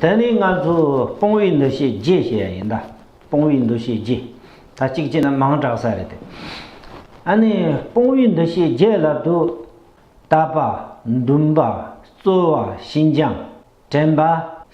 དེ་ནི་ང་ཚོས་སྤོང་བའི་འདུ་ཤེས་རྒྱས་ཞེས་ཡ་ཡིན་ད། སྤོང་བའི་འདུ་ཤེས་རྒྱས། ད་གཅིག་བྱས་ན་མང་དྲགས་ས་རེད་དེ། ཨ་ནི་སྤོང་བའི་འདུ་ཤེས་རྒྱས་ལབ་དུ། ད་པ། འདུན་པ། རྩོལ་བ། ཤིན་སྦྱངས། དྲན་པ།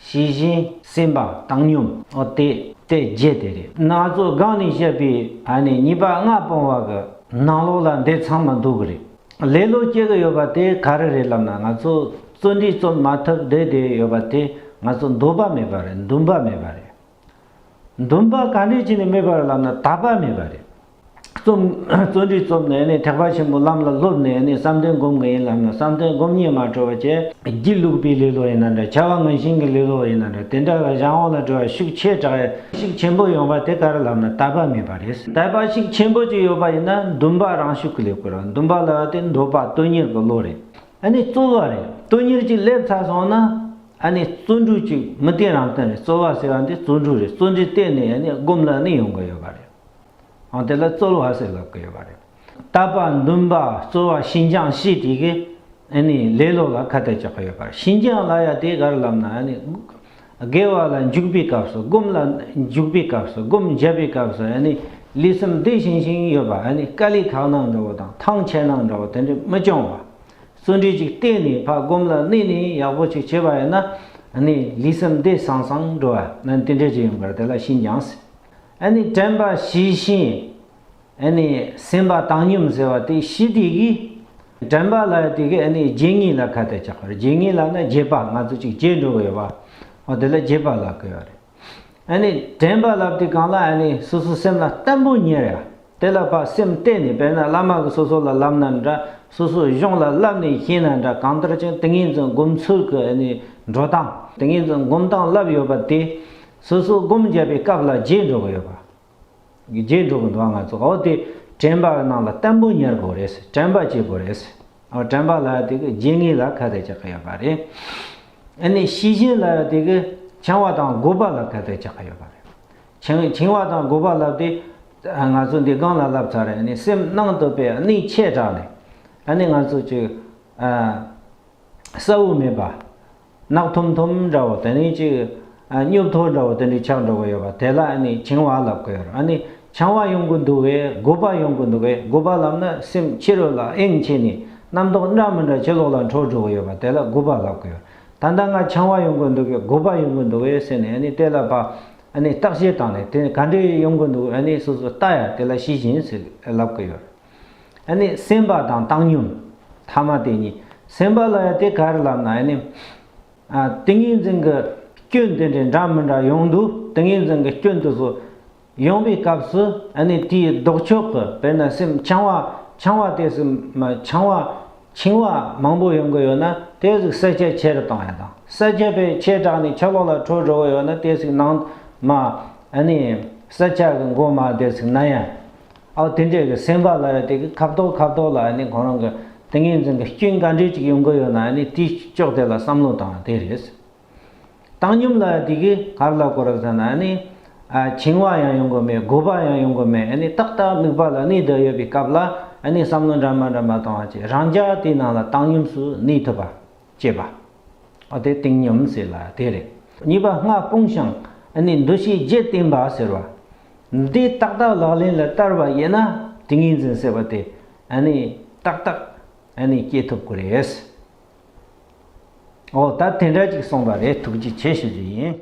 ཞི་བཞིན། སེམས་པ། བཏང་སྙོམས། ཨོ་དེ། དེ་རྒྱས་དེ་རེད། ན་ཚོད་དགག་ནས་བཤད་པའི་ཨ་ནི་གཉིས་པ་ལྔ་སྤོང་བ་གི་ནང་ལོགས་ལ་འདི་ཚང་མ་འདུག་གི་རེད། ལེ་ལོ་སྐྱེ་གི་ཡོད་པ་དེ་ག་རེ་རེད་ལབ་ན་ང་ཚོ་བརྩོན་འགྲུས་རྩོམ་མ་ཐུབ་བསྡད་བསྡད་ཡོད་པ་དེ་ང་ཚོ་འདོད་པ་མེད་པ་རེད་འདུན་པ་མེད་པ་རེད། འདུན་པ་ག་འདྲས་བྱས་ནས་མེད་པ་རེད་ལབ་ན་དག་པ་མེད་པ་རེད། རྩོམ་བརྩོན་འགྲུས་རྩོམ་ནས་ནས་ཐེག་པ་ཆེན་པོ་ལམ་ལ་སློབ་ནས་ནས་བསམ་དོན་སྒོམ་གི་ཡིན་ལབ་ན་བསམ་དོན་སྒོམ་ཉེས་མ་གྲོལ་བ་བཅས་སྒྱིད་ལུག་པའི་ལེ་ལོ་ཡིན་ན་འདྲ་བྱ་བ་ངན་ཞིང་གི་ལེ་ལོ་ཡིན་ན་འདྲ་དེ་འདྲ་ལ་བཞག་འོང་ལ་འགྲོ་བ་ཤུགས་ཆེ་དྲགས་ཤུགས་ཆེན་པོ་ཡོང་པ་དེ་ག་རེ་ལབ་ན་དག་པ་མེད་པ། རེད། དད་པ་ཞིག་ཆེན་པོ་ཅིག་ཡོད་པ་ཡིན་ན་འདུན་པ་རང་ཤུགས་ཀྱིས་སླེབས་དགོས་རང་འདུན་པ་ལ་དེ་འདོད་པ་དོན་གཉེར་གྱི་བློ་རེད། ཨ་ནི་རྩོལ་བ་རེད་དོན་གཉེར་ཅིག་སླེབས་ཚར་སོང་ན་ཨ་ནི་བརྩོན་འགྲུས་ཅིག་མི་བརྟེན་རང་བརྟེན་རེད་རྩོལ་བ་ཟེར་བ་འདི་བརྩོན་འགྲུས་རེད་བརྩོན་འགྲུས་བརྟེན་ནས་ཨ་ནི་སྒོམ་ལ་ནི་ཡོང་གི་ཡོད་པ་རེད། དེ་ལ་རྩོལ་བ་ཟེར་ལབ་ཀྱི་ཡོད་པ་རེད། རྟ་པ་འདུན་པ་གཙོ་བ་ཤིན་ཅང་ཤིས་ཀྲི་གི་ལས་ལོག་ལ་ཁ་གཏད་རྒྱག་གི་ཡོད་པ་རེད་ཤིན་ཅང་ལ་ཡ་དེ་གར་ལབ་ན་དགེ་བ་ལ་འཇུག་པའི་སྐབས་སུ་སྒོམ་ལ་འཇུག་པའི་སྐབས་སུ་སྒོམ་བརྒྱབ་པའི་སྐབས་སུ་ལུས་སེམས་བདེ་ཞིང་ཞིང་ཡོད་པ་དཀའ་ལས་ཁག་ནང་འདྲ་བོ་དང་ཐང་ཆད་ནང་འདྲ་བོ་དེ་འདྲས་མི་སྐྱོང་བ་བརྩོན་འགྲུས་ཅིག་གཏད་ནས་ཕ་སྒོམ་ལ་གནས་ནས་ཡག་པོ་ཅིག་བྱས་པ་ཡིན་ན་ལུས་སེམས་བདེ་སང་སང་འགྲོ་བ་དེ་འདྲས་ཅིག་ཡིན་པར་དེ་ལ་ཤིན་ཅང་ཞིས་ཀྲན་པ་ཞིས་ཤིན། ཨེ་ནི་སེམས་དཔའ་བཏང་སྙོམས་ཟེར་བ་དེ་ཤི་དེ་གི། དྲན་པ་ལ་དེ་གི་ཨེ་ནི་རྗེས་ངེས་ལ་ཁ་གཏད་བཅག་པ་རེད་རྗེས་ངེས་ལ་ནི་རྗེས་དཔག་ང་ཚོ་ཅིག་རྗེས་འགྲོ་བའི་བ། འོ་དེ་ལ་རྗེས་དཔག་ལ་གོལ་བ་རེད། ཨེ་ནི་དྲན་པ་ལ་དེ་གང་ལ་ཨེ་ནི་སོ་སོ་སེམས་ལ་བརྟན་པོ་ཉེར་ཡ། དེ་ལ་བ་སེམས་གཏད་ནས་པས་ན་བླ་མ་གི་སོ་སོ་ལ་ལབ་ན་འདྲ་སོ་སོའི་གཞུང་ལ་བསླབ་ནས་ཤེས་ན་འདྲ་གང་ལྟར་ཅིང་ཏིང་ངེ་འཛིན་སྒོམ་ཚུལ་གི་ཨེ་ནི་འགྲོ་སྟངས་ཏིང་ངེ་འཛིན་སྒོམ་སྟངས་བསླབ་ཡོད་པ་དེ། སོ་སོ་སྒོམ་བརྒྱབ་པའི་སྐབས་ལ་རྗེས་འགྲོ་གི་ཡོད་པ། གི་རྗེས་འགྲོ་གི་འགྲོ་བ་ང་ཚོ་འོ་དེ་དྲན་པ་རྣམས་ལ་བརྟན་པོ་གཉེར་དགོས་རེད་དྲན་པ་བྱེད་དགོས་རེད་འོ་དྲན་པ་ལ་དེ་གི་རྗེས་ངེས་ལ་ཁ་གཏད་ཆགས་ཀྱི་ཡོད་པ་རེད་ཨ་ནི་ཤེས་བཞིན་ལ་དེ་གི་བྱིང་བ་དང་རྒོད་པ་ལ་ཁ་གཏད་ཆགས་ཀྱི་ཡོད་པ་རེད་བྱིང་བྱིང་བ་དང་རྒོད་པ་ལབ་སྟེ་ང་ཚོ་འདི་སྒང་ལ་ལབ་ཚར་རེད་ཨ་ནི་སེམས་ནང་དུ་པའི་ནི་ཆད་དྲགས་ནས་ཨ་ནི་ང་ཚོ་ཅིག་ཨ་ས་བོན་མེད་པ། རྣག་ཐུམ་ཐུམ་འདྲ་བོ་དེ་ནི་གཅིག། སྙུབ་ཐོར་འདྲ་བོ་དེ་ནི་ཆག་འགྲོ་བ་ཡོད་པ་དེ་ལ་བྱིང་བ་ལབ་གི་ཡོད་རེད། བྱང་བ་ཡོང་གི་འདུག་བས་དགུ་པ་ཡོང་གི་འདུག་བས་དགུ་པ་ལབ་ན་སེམས་ཕྱི་རོལ་ལ་ཨེང་བྱས་ནས་རྣམ་རྟོག་འདྲ་མི་འདྲ་ཕྱི་ལོག་ལ་འཕྲོ་འགྲོ་གི་ཡོད་པ་དེ་ལ་དགུ་པ་ལབ་གི་ཡོད། ད་ལྟ་ང་བྱང་བ་ཡོང་གི་འདུག་བས་དགུ་པ་ཡོང་གི་འདུག་བས་ཟེར་ནས་དེ་ལ་བརྟག་དཔྱད་བཏང་ནས་དེ་ག་འདྲས་ཡོང་གི་འདུག་བས་སོ་སོ་བལྟ་ཡ་དེ་ལ་ཤེས་བཞིན་ཟིག་ལབ་གི་ཡོད་རེད། ནི་སེམས་དཔའ་དང་བཏང་སྙོམས་ཐ་མ་དེ་གཉིས་སེམས་དཔའ་ལ་ཡང་དེ་གར་ལབ་ན་ནི། ཏིང་ངེ་འཛིན་གྱི་སྐྱོན་དེ་འདྲའི་འདྲ་མི་འདྲ་ཡོང་དུས་ཏིང་ངེ་འཛིན་གྱི་སྐྱོན་དེ་ཚོ་ཡོང་པའི་སྐབས་སུ་ནི་དེའི་ལྡོག་ཕྱོགས་ཀྱི་དཔེར་ན་སེམས་འཆང་བ་འཆང་བ་དེ་སེམས་མ་འཆང་བ་འཆིང་བ་མང་པོ་ཡོང་གི་ཡོད་ན་དེ་ཟིག་གསལ་ཆ་ཆེ་རུ་གཏོང་ཡ་དང་གསལ་ཆ་པའི་ཆེ་དྲགས་ནས་ཆ་ལོག་ལ་འཕྲོ་འགྲོ་གི་ཡོད་ན་དེ་ཟིག་ནང་མ་ནི་གསལ་ཆ་གི་མགོ་མ་དེ་ཟིག་ན་ཡ། ཨའོ་དེ་འདྲའི་གི་སེམས་པ་ལ་ཡང་དེ་གི་ཁ་བཏོག་ཁ་བཏོག་ལ་ཡང་ནི་གང་རུང་གི་ཏིང་ངེ་འཛིན་གི་སྐྱོན་ག་འདྲས་ཅིག་ཡོང་གི་ཡོད་ན་ཡང་ནི་དེའི་ཕྱོགས་དེ་ལ་བསམ་བློ་བཏང་བ་དེ་རེད། བཏང་སྙོམས་ལ་ཡང་དེ་གི་གར་ལ་གོ་ར་ཟེར་ན་ཡང་ནི། བྱིང་བ་ཡང་ཡོང་གི་མེད་དགོད་པ་ཡང་ཡོང་གི་མེད་ཡང་ནི་ཏག་ཏག་དམིགས་པ་ལ་གནས་དགོས་ཡོད་པའི་སྐབས་ལ་ཡང་ནི་བསམ་བློ་འདྲ་མ་འདྲ་མ་བཏང་བ་ཅིག་རང་ཅག་དེའི་ནང་ལ་བཏང་སྙོམས་སུ་གནས་ཐུབ་པ། ཅེས་པ། དེ་ཏིང་སྙོམས་ཟེར་ལ་དེ་རེད། གཉིས་པ་སྔགས་སྤོང་ཞིང་ནི་འདུ་ཤེས་བརྒྱད་བསྟེན་པ་ཟེར་བ། འདི་ཏག་ཏག་ལག་ལེན་ལ་བསྟར་བ་ཡིན་ན་ཏིང་ངེ་འཛིན་ཟེར་བ་དེ་ཏག་ཏག་སྐྱེ་ཐུབ་ཀྱི་རེད། འོ་ད་དེ་འདྲ་ཅིག་གསུངས་པ་རེད་ཐུགས་རྗེ་ཆེ་ཞུ་རྒྱུ་ཡིན།